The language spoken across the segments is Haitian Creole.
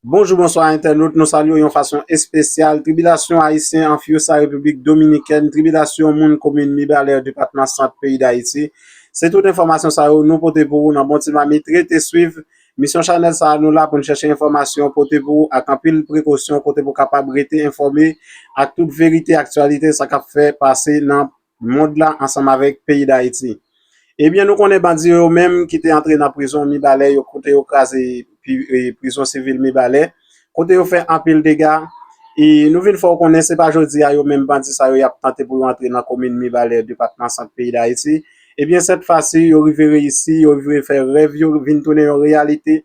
Bonjou bonswa entènot nou salye w yon fason espesyal tribilasyon ayisyen an Fiusa repiblik dominikèn tribilasyon moun komin mibalè depatman sant peyi dayiti se tout enfòmasyon sa yo nou pote pou ou nan bon ti mamit rete swiv misyon chanèl sa nou la pou n chèche enfòmasyon pote pou ou ak anpil prekosyon kote pou kapab rete enfòme ak tout verite aktyalite sa kap fè pase nan mond la ansanm avèk peyi Dayiti. Ebyen nou konnen bandi yo menm ki te antre nan prizon Mibalè yo kote yo kraze prizon sivil Mibalè, kote yo fè anpil dega, e nou vin fè w konnen se pa jodi a yo menm bandi sa yo y ap tante pou yo antre nan komin Mibalè depatman Sant peyi Dayiti. Ebyen sèt fasi yo rive reyisi, yo rive fè rèv yo vin tounen yon reyalite.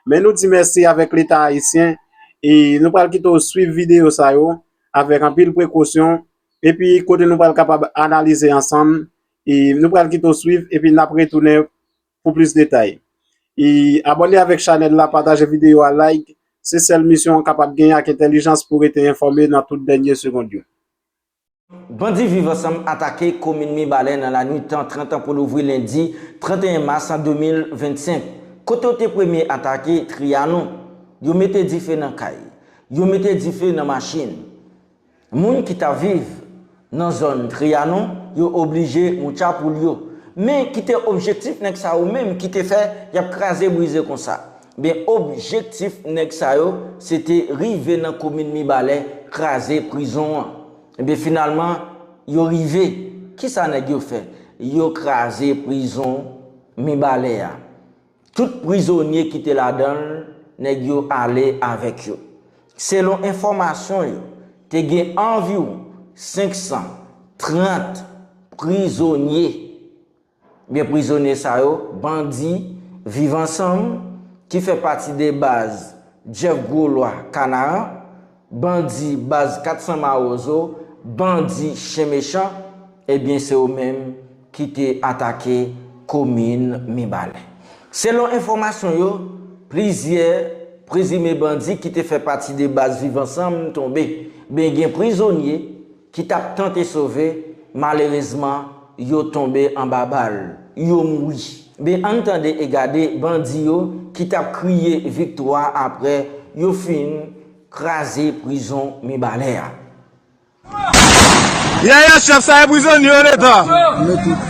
Men nou di mèsi avèk leta ayisyen e nou pral kite w swiv videyo sa yo avèk anpil prekosyon. Epi kote nou pral kapab analize ansanm. Nou pral kite w swiv epi nap retounen pou plis detay. Abòne avèk chanèl la, pataje videyo a, like. Se sèl misyon an kapab genyen ak entèlijans pou rete enfòme nan tout dènye segond yo. Bandi Viv Ansanm atake komin Mibalè nan lanwit tan 30 an pou louvri lendi 31 mas 2025. Kote yo te premye atake Trianon. Yo mete dife nan kay. Yo mete dife nan machin. Moun ki ta viv nan zòn Trianon yo oblije moucha poul yo. Men ki te objektif nèg sa yo menm ki te fè yap kraze brize konsa? Ben objektif nèg sa yo se te rive nan komin Mibalè kraze prizon an. Enben finalman yo rive. Kisa nèg yo fè? Yo kraze prizon Mibalè a. Tout prizonye ki te ladan l, nèg yo ale avèk yo. Selon enfòmasyon yo, te gen anviwon 530 prizonye. Men prizonye sa yo, bandi Viv Ansanm, ki fè pati de baz Jeff Groslois Kanaran, Bandi baz 400 mawozo, bandi chen mechan, ebyen se yo menm ki te atake komin Mibalè. Selon enfòmasyon yo, plizyè prezime bandi ki te fè pati de baz Viv Ansanm tonbe, ben gen prizonye, ki tap tante sove malerezman yo tonbe anba bal yo mouri ben ann tande e gade bandi yo ki tap kriye viktwa aprè yo fin kraze prizon mibalè a. Yaya chef sa e prizonye yo leta.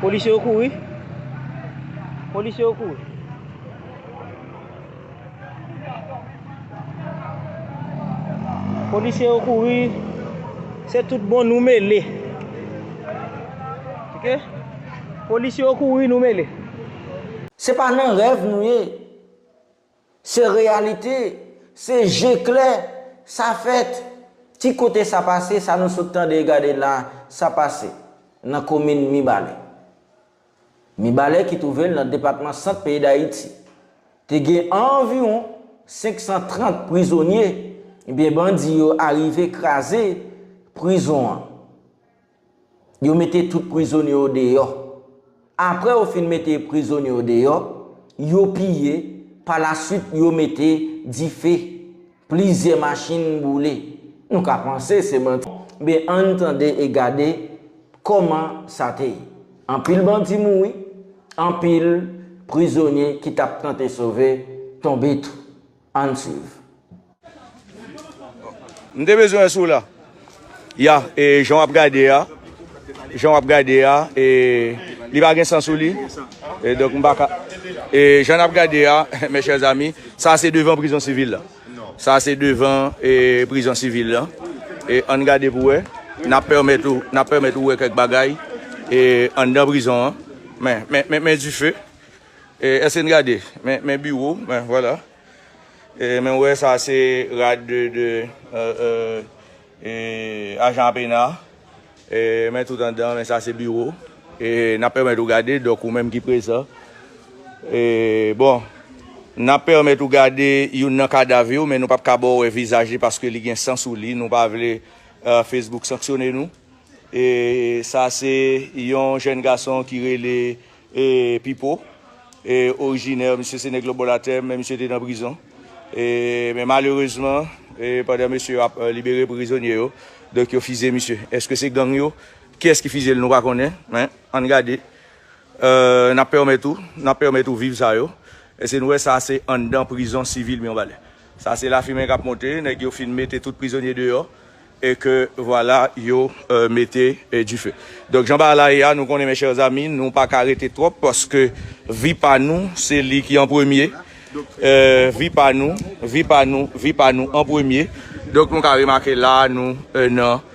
Polisye yo kouri. Polisye yo kouri. Polisye yo kouri. Se tout bon nou mele. Ok? Polisye yo kouri nou mele. Se pa nan rèv nou ye. Se reyalite, se je klè, sa fèt. Ti kote sa pase, sa nou sot tande e gade la, sa pase nan komin Mibalè. Mibalè ki twouve l nan depatman Sant peyi Dayiti. Te gen anviwon 530 prizonye, ebyen bandi yo arive kraze prizon an. Yo mete tout prizonye yo deyò. Apre yo fin mete prizonye yo deyò, yo piye, palasuit yo mete dife. Plizyè machin boule. Nou ka panse se manti. Enben, ann tande e gade kòman sa te ye. Anpil bandi mouri, anpil prizonye ki t ap tante sove tonbe tou. Ann swiv. M te bezwen sou la. Ya e jan wap gade a jan wap gade a e li pa gen san sou li e donk m pa ka e jan nap gade a mes chers amis sa se devan prizon sivil la sa se devan e prizon sivil la e ann gade pou wè nap pèmèt ou nap pèmèt ou wè kèk bagay e anndan prizon an men men men men dife Eske n gade? Men biwo m, men vwala. Men w wè sa se rad de ajan APENA. Men tout anndan, men sa se biwo. N ap pèmèt ou gade, dòk ou menm ki prezan. Bon, n ap pèmèt ou gade youn nan kadav yo, men nou pap ka ba w wè vizaj li paske li gen san sou li. Nou pa vle Facebook sanksyone nou. Sa se yon jèn gason ki rele E Pipo e orijinè misye se nèg lobolatè men misye te nan prizon e men malerezman e pandan mesye yo ap libere prizonye yo donk yo fizye misye eske se gang yo kiyès ki fizye l nou pa konnen men ann gade euh nap pèmèt ou nap pèmèt ou viv sa yo eske nou wè sa se anndan prizon sivil Mionbalè sa se lafimen kap monte nèg yo fin mete tout prizonye deyò. Et que voilà yo mete dife. Donc jan bagay la ye a nou konnen mes chers amis nou pa ka rete trop paske vi pa nou se li ki an premye vi pa nou vi pa nou vi pa nou an premye donc nou ka remake la nou nan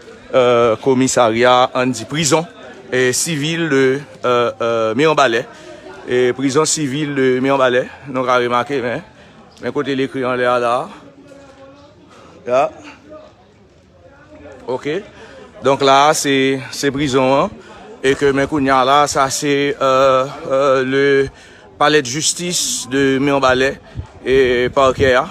komisarya an di prizon sivil de miranbalè prizon sivil de miranbalè nou ka remake men kote li ekri anlè a la. Ya Ok Donk la a se se prizon an e ke men kounye a la a sa se le palè de jistis de Mirbalè e parkè a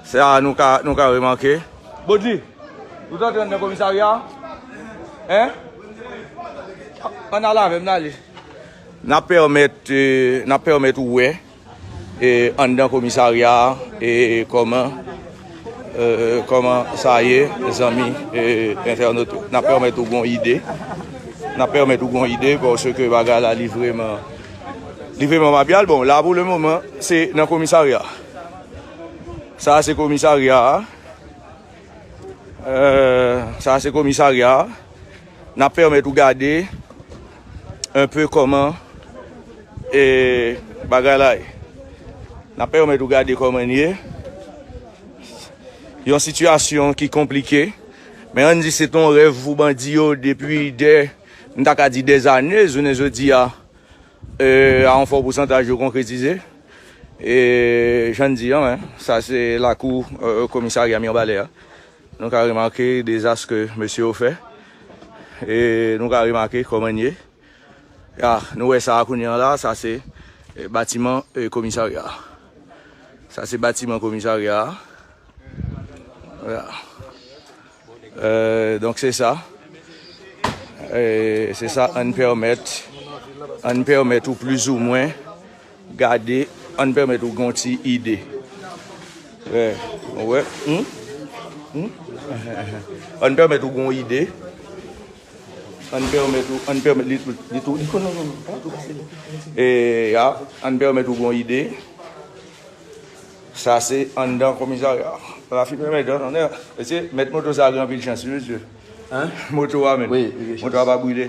Se a nou ka nou ka remake Bodji Ou t antre nan komisarya a Hein An n al avè m n ale N ap pèmèt n ap pèmèt ou wè. Anndan komisarya a e kòman kòman sa ye zanmi entènot yo. Nan pèmèt ou gon ide, nan pèmèt ou gon ide pòske bagay la li vreman li vreman mapyal. Bon la pou le moman se nan komisarya. Sa se komisarya a sa se komisarya a nan pèmèt ou gade un peu koman bagay la ye. N ap pèmèt ou gade koman li ye. Yon sitiyasyon ki konplike. Men an di se ton rèv pou bandi yo depi dè, m ta ka di dè zane, jounen jodi a, a yon fò pousantaj yo konkretize. E jan n di an, sa se lakou komisarya Mirbalè a. Nou ka remake dezas ke mesye yo fè. E nou ka remake kòman ye. Ya, nou wè sa a kounye an la a, sa se batiman komisarya a. Sa se batiman komisarya a. Ya. Donk se sa. Se sa an pèmèt, an pèmèt ou plizoumwen. Gade ann pèmèt ou gen yon ti ide. Wè, ou wè, hum, hum, ann pèmèt ou gen yon ide, ann pèmèt ou, ann pèmèt, li, li tou, li tou, non, non, non, pa tou pase li. E, ya, ann pèmèt ou gen yon ide, sa se anndan komisarya a. Rafi mèt mèt an, anndan, mesye, mèt moto sa a gen anpil chans wi mesye. Hein? Moto a menm. Wi, li gen chans. Moto a pa brile.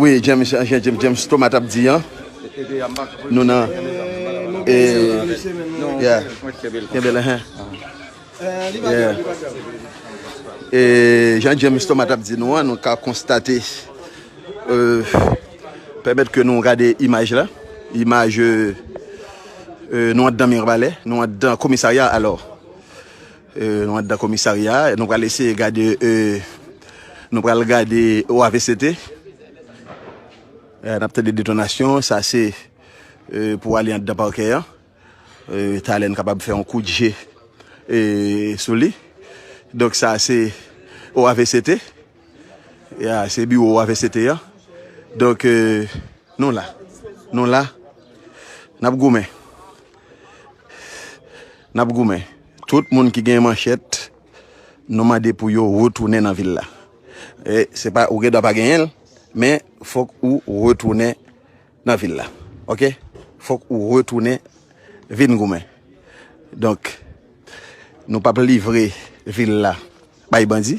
Wi James jan James Thomas tap di an Nou nan Yeah Kenbe la Yeah Jan James Thomas tap di nou an Nou ka konstate Pèmèt ke nou gade imaj la Imaj Nou andan Mirbalè Nou andan komisarya alò Nou andan komisarya a, nou pral eseye gade, nou pral gade OAVCT. N ap tande detonasyon, sa se pou ale andan pakè an. Talè n kapab fè yon kout je sou li. Donk sa se OAVCT, se biwo OAVCT an. Donk nou la, nou la, n ap goumen, n ap goumen. Tout moun ki gen manchèt nou mande pou yo retounen nan vil la. E se pa ou gen dwa pa genyen l, men fòk ou retounen nan vil la. Ok? Fòk ou retounen vin goumen. Donk, nou pap livre vil la bay bandi.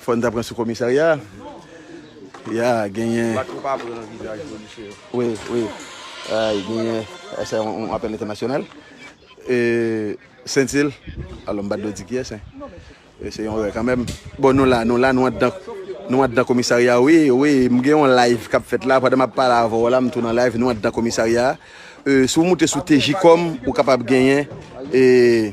Fòn ta pran sou komisarya ya genyen. Bat pou pa pran vizaj polisye yo. Wi wi ay genyen se yon apèl entènasyonal e sentil alò m pa dwe di kiyès hein e se yon rè kanmenm bon nou la nou la nou andan nou andan komisarya wi wi m gen yon live kap fèt la pandan map pale avè w la m tou nan live nou andan komisarya e si w moute sou tejikòm ou kapab genyen e.